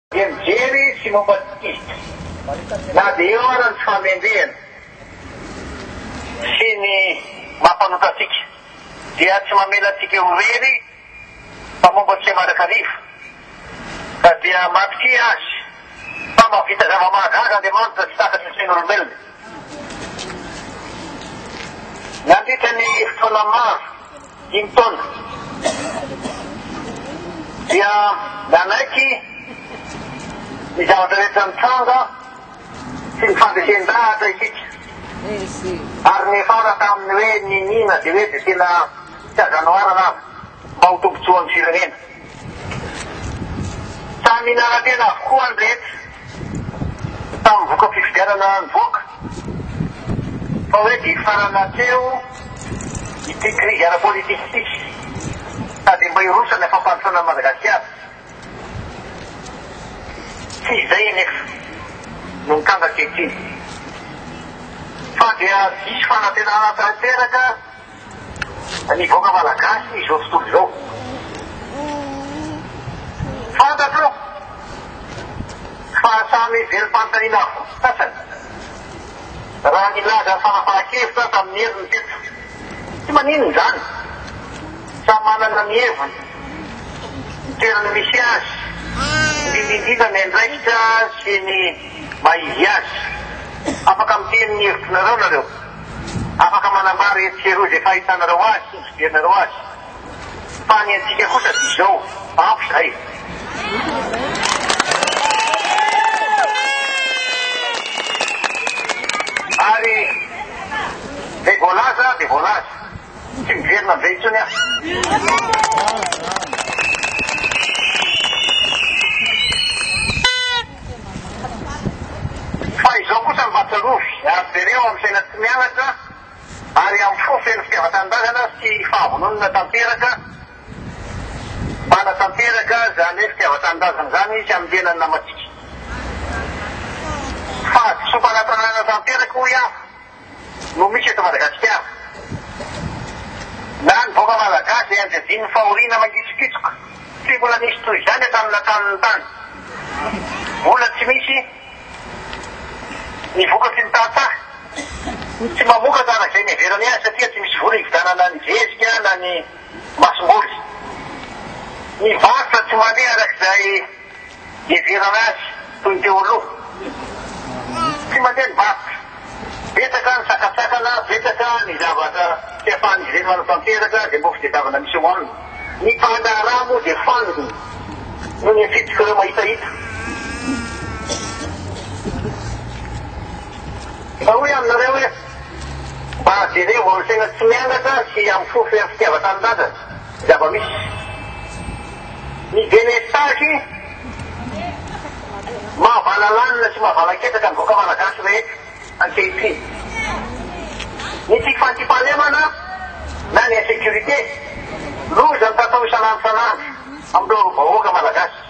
Dia mijery izy sy mampatsikiky, na dia eo aza ny tsy fahamendrehana sy ny maha mpanota antsika, dia tsy mamela antsika ho irery fa momba antsika mandrakariva, ka dia matokia Azy fa mahavita zava-mahagaga Andriamanitra tsy takatry ny sain'olombelona. Nandritra ny fotoana maro. dimy taona dia nanaiky ny zavatra rehetra nitranga sy ny fandresen-dahatra isika ary niefara tamin'ny hoe niniana dia hoe dia tena tsy azo anoharana aza mba ho tombontsoan'ny firenena. Samy minara-tena avokoa ny rehetra. Samy mivoka fifidianana nivoaka. Fa hoe dia hifarana hatreo ity krizy ara-politika ity. Sa dia mba hiroso any fampandrosoana an'i Madagasikara? Tsy izay anefa no mikambaka ankehitriny. Fa dia diso fanantenana tanteraka. Ny vahoaka Malagasy izao tontolo izao. Fantatro fa samy velom-panontaniana avokoa ny sasany raha nilaza fanapahan-kevitra tamin'ny heriny teto. Tsy maninona izany, samy manana ny heviny, ny toerany misy azy, indrindra indrindra ny andraikitra sy ny maha izy azy. Afaka miteny ny hevitr'nareo nareo. Afaka manambara etsy sy eroa izay fahitanareo azy sy ny fijerinareo azy. Fa ny antsika kosa dia izao, ampy izay. Ary izay voalaza dia voalaza. Tsy miverina amin'izay intsony aho. Fa izao kosa mba tsarovy, ary jereo amin'ny saina tsy mianatra ary amin'ny fo feno fitiavan-tanindrazana sy fahavononana tanteraka, mba hanatanteraka izany fitiavan-tanindrazana izany sy hamelana ny namantsika. Fahadisoam-panatanana tanteraka hoy aho. no misy eto Madagasikara. Na ny vahoaka Malagasy izay anjadian'ny fahoriana mangitsokitsoka, tsy mbola nisy toy izany hatramin'ny nataon'ny tany. Mbola tsy misy ny vokatry ny tantsaha. Tsy mamokatra araka izay niheverany azy satria tsy misy vola hividianana ny zezika na ny masomboly. Ny varotra tsy mandeha araka izay Iheverana azy toy ny teo aloha. Tsy mandeha ny varotra. Betsaka ny sakantsakana, betsaka ny zavatra tsy ahafahan'izy ireny manao tanteraka izay mbola fitadiavana misy eo aminy. Ny mpandraharaha moa dia fanina noho ny afiditr'ireo mahitahita. Mba hoy aminareo hoe, mba jereo vao ny saina tsy miangatra sy amin'ny fofo sy amin'ny fitiavan-tanindrazana. zava-misy. Ny delestazy mahavalalanina sy mahavalan-ketraka ny vahoaka malagasy rehetra ankehitriny. Ny tsy fandriampahalemana na ny insécurité, loza mitatao isan'andro isan'andro amin'ireo vahoaka malagasy.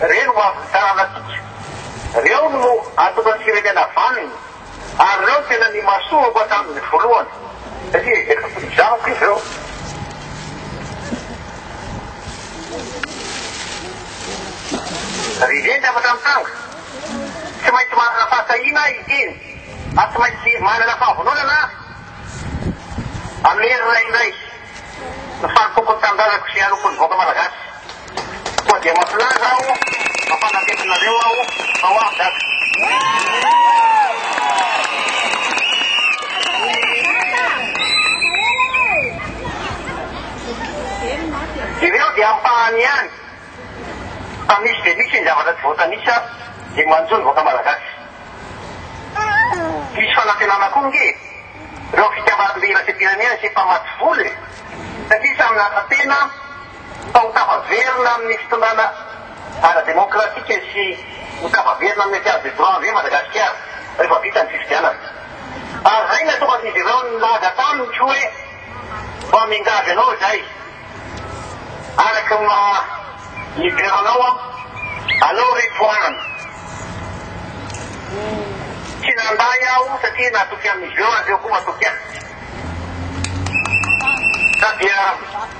Reny ho avin'ny taranantsika. Reo no ahatonga ny firenena havaniny. Ary reo no tena nimasohako hatramin'ny volohany. Satria efa mpizahako izy reo. Ry Reny afatra mitranga. Tsy maintsy manana fahatahiana ahy hiteny. Ary tsy maintsy manana fahavononana aho hamerina indray ny fanompoako ny tanindrazako sy hanompony vahoaka malagasy. Koa dia mampilaza aho, mampanatena anareo aho fa ho avy Dada. Ireo dia ampahany ihany fa misy dia misy ny zavatra tsy voatanisa dia manjo ny vahoaka Malagasy. Hisy fanantenana koa ange ireo fitiavan'ny iraisam-pirenena sy efa maty vola e! Satria samy naka tena. fa ho tafaverina amin'ny fitondrana ara-demokratika sy ho tafaverina amin'ny etat de droit ve Madagasikara rehefa vita ny fifidianana? Ary izay no atokan'izy ireo nilaza taminy koa hoe mba miangavy anao izahay araka ny maha leader anao aho, alao re tohanana. Tsy nandany aho satria natoky an'izy ireo ary ireo koa matoky ahy. Sa dia.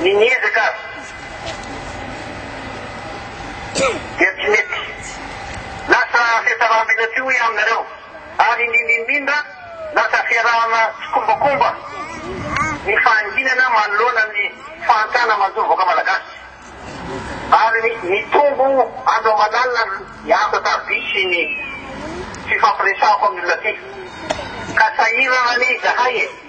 Ny miezaka aza dia tsy mety. Lasa fihatsarambina tsy ho iha aminareo. Ary ny mimindra, lasa fiarahana tsikombakomba ny fahanginana manoloana ny fahantana manjo ny vahoaka malagasy. Ary ny mitombo andro aman'alina ny asa tardia sy ny fifampiresahako amin'ny olona aty. Ka sahirana anie izahay e!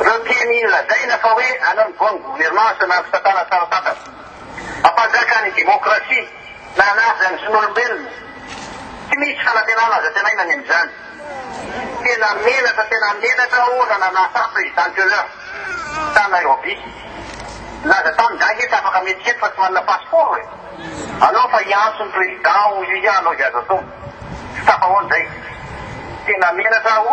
Ireo mpianiany lazaina fa hoe any amin'ny bonne gouvernance na fisakana tsara tantana, hampanjaka ny demokrasia na hanaja ny zon'olombelona, tsy misy fanantenana azo antenaina ny amin'izany. Tena menatra tena menatra aho raha nanasa Président Köhler tany Nairobi. Nilaza taminy za nge tsy afaka miditra eto fa tsy manana passeport e! Aleo fa hiantso ny Président hoy izy hanao izay azo atao. Tsy tafahoana izay. Tena menatra aho.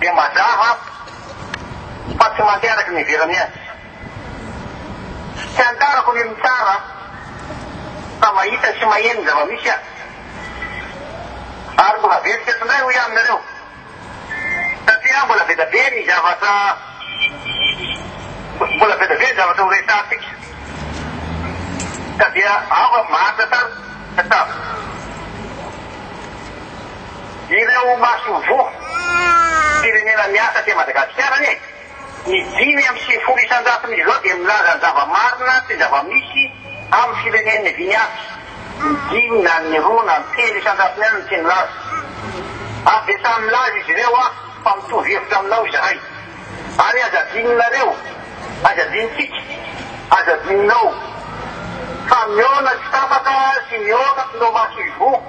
Dia mazava fa tsy mandeha araka ny iheverany azy. Fiantarako ny mitsara fa mahita sy maheno ny zava-misy aho. Ary mbola very teto indray hoy aho aminareo. Satria mbola be dia be ny zavatra mbola be dia be ny zavatra ho resahantsika. Ka dia aho maharitra tany. Tchau. Ireo masoivoho firenena miasa aty Madagasikara anie, ny dimy amby sivifolo isan-jatony izao dia milaza ny zava-marina sy ny zava-misy amin'ny firenen'ny Vinyasa. Ny dimy na ny roa na ny telo isan-jatony ihany no tsy nilaza. Ary dia samy milaza izy ireo ah, fa mitovy hevitra aminao izahay. Ary aza adinonareo, aza adinontsika, aza adinonao, fa mihaona tsy tapaka sy mihaona ireo masoivoho.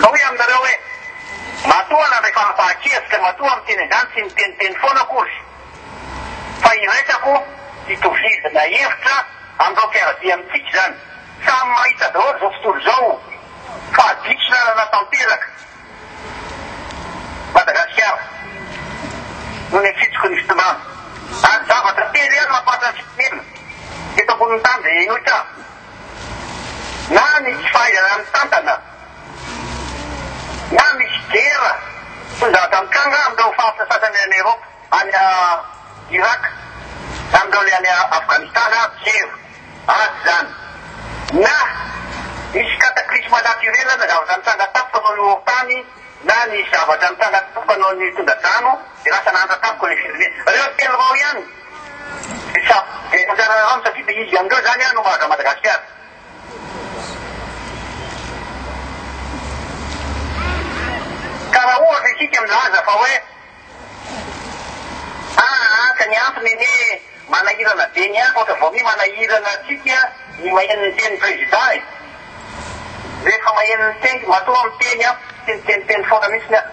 Ka hoy aminareo hoe, Matoa nandray fanapahan-kevitra, dia matoa miteny an'izany tsy miteniteny foana akory, fa iraisako hitovizana hevitra amin'ireo mpiara-dia amintsika izany. Samy mahita daholo izao tontolo izao fa diso lalana tanteraka Madagasikara noho ny fitsoky ny fitondrana. Ary zavatra telo ihany mampahatra ny firenena eto ambonin'ny tany dia inoy tsa. Na ny tsy fahaizana mitantana, na misy gera tonga aza mitranga amin'ireo faritra sasany any Eropa, any Iraka, na amin'ireo le any Afghanistan ary tsy hevy azy izany. Na misy cataclysme naturel na zavatra mitranga tampoka noho ny horon-tany, Na nisy zavatra nitranga tamiko hanao ny tondra-drano dia lasa nahantra tamiko ilay firenena. Ireo telo ireo ihany dia sa dia anjaranareo aminy satria dia izy amin'ireo izany aho no mahagaga Madagasikara. Ka raha ohatra isika milaza fa hoe. Tahaka ny antony anie manahirana be ny afo ohatra vao mi manahirana antsika ny maheno ny teny président e! Rehefa maheno ny teny matoa miteny aho tsy miteniteny foana mihitsiny aho.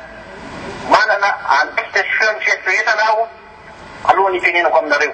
Manana andraikitra sy feon'ny fieritreretana aho alohan'ny hitenenako aminareo.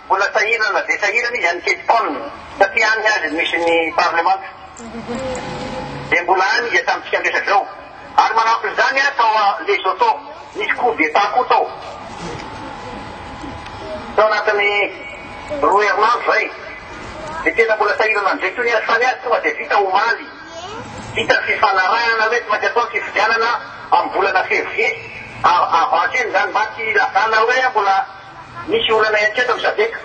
Mbola sahirana na dia sahirana izy any Cape Town, satria any ny azy no misy ny parlemanta, dia mbola any izy hatramintsika miresaka izao. Ary manampy izany aho tao Lesotho, nisy coup d'Etat koa tao, tao anatin'ny roa herinandro izay, dia tena mbola sahirana amin'izay koa ny azy, fa ny azy tonga dia vita omaly, vita ny fifanarahana hoe tsy maintsy atao ny fifidianana amin'ny volana février, avril izany, mba tsy hilazana hoe mbola. Nisy olana ihany koa eto Msadeka.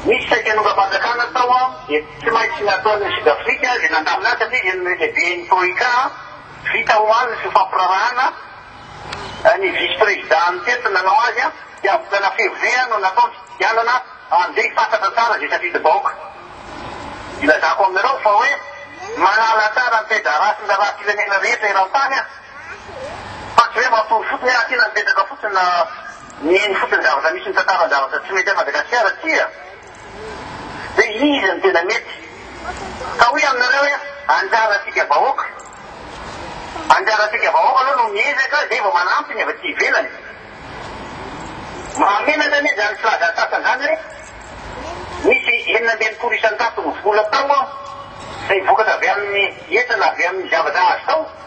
Nisy saika nongam-panjakana tao an, dia tsy maintsy nataon'i Sud Afrika izay nandamina azy satria izy no lehiben'ny Troika an. Vita omaly ny fifampiraharahana, ny vice président ny teto nanao azy an, dia volana février an no natao ny fifidianana an'izay hifantatra tsara izay safidim-bahoaka. Ilazako aminareo fa hoe manala tsara ny taidarasin-daraha firenena rehetra eran-tany an. Fa tsy hoe mampitory fotsiny hoe aty na mipetraka fotsiny na mihaino fotsiny zavatra misy mitantara an-javatra tsy mety an'i Madagasikara tsia. Hoe iza no tena mety. Ka hoy aminareo hoe anjarantsika vahoaka. Anjarantsika vahoaka aloha no miezaka izay vao manampy ny avy aty ivelany. Mahamenatra anie izany filaza antsasany izany hoe nisy enina amby enimpolo isan-tato ny vola tao izay vokatra avy amin'ny hetra na avy amin'ny zavatra azo tao.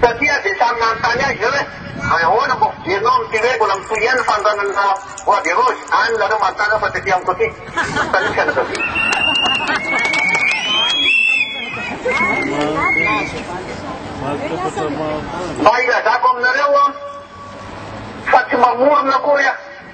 Satria dia samy nanontany ahy izao hoe, Ahoana vao fijerinao amin'ity hoe mbola mitohy ihany ny fanondranana bois de rose? Any nareo manontany aho fa tsy aty amiko aty. Salut fianakaviana. Mba ilazako aminareo fa tsy mamorona akory aho.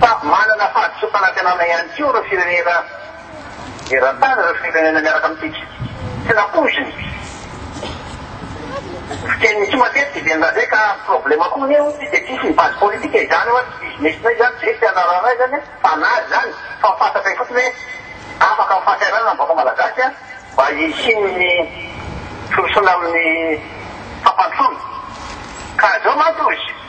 Fa manana fahadisoam-panantenana ihany koa ireo firenena eran-tany, ireo firenena miaraka amintsika. Tsy nampoiziny. Fiteniny koa matetika i Benda izay ka problema koa anie hono ity dia tsisy ny base politique izany hoa tsy business-nay izany, tsy hoe tsy hanarahanay izany an, fanahy izany fa fantatray fotsiny hoe afaka amin'ny fahasahiranana ny vahoaka malagasy an, mba hisian'ny firosoana amin'ny fampandrosoana. Ka izao mantsy hozy.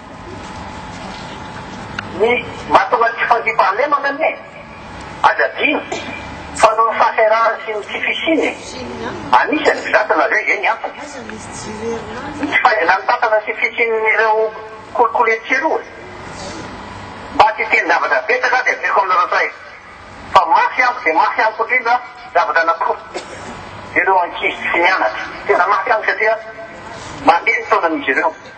Ny mahatonga ny tsy fandriampahalemana anie, aza adino, fa noho ny fahasahiranany sy ny tsy fisiany an'isa ny mpizatana avy eo izay ny antony. Ny tsy fahaizanan'ny tantana sy fisian'ireo kolikoly etsy sy eroa. Mba tsy hiteny zavatra betsaka aho dia adinoko aminareo indray fa mafy amiko dia mafy amiko indrindra ny zavatra anankiroa, ireo ankizy tsy mianatra. Tena mafy amiko satria mandeha ny taonan'izy ireo.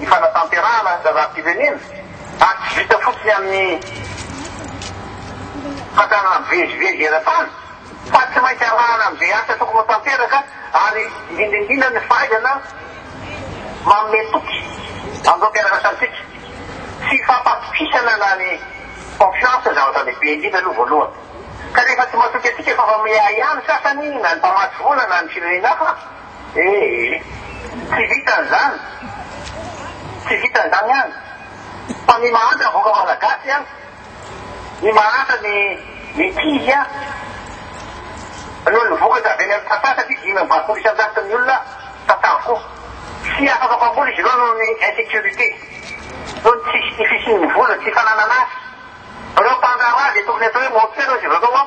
Ny fanatanterahana ny zazam-pirenena ary tsy vita fotsiny amin'ny fandrarana mivezivezy eran-tany fa tsy maintsy arahana amin'izay asa tokony ho tanteraka ary indrindra indrindra ny fahaizana manome toky amin'ireo mpiara-miasantsika sy fampatokisana na ny confiance zavatra lehibe indrindra aloha voalohany ka rehefa tsy matoky antsika fa fa miahiahy ny sasany na ny mpamatsy vola na ny firenena hafa Ee, tsy vitan zany, tsy vitan zany an! Fa ny mahantra ny vahoaka malagasy an! Ny mahantra ny mikiry an! Noho ny vokatra avy any amin'ny tantsaha satria dimy amby valopolo isan-jato ny olona tantsaha-ko. Tsy afaka mpamboly izy ireo noho ny insecurite, noho ny tsy tsy fisian'ny vola, tsy fananana asa. Ireo mpandraharaha dia tokony atao hoe menteur izy ireo an!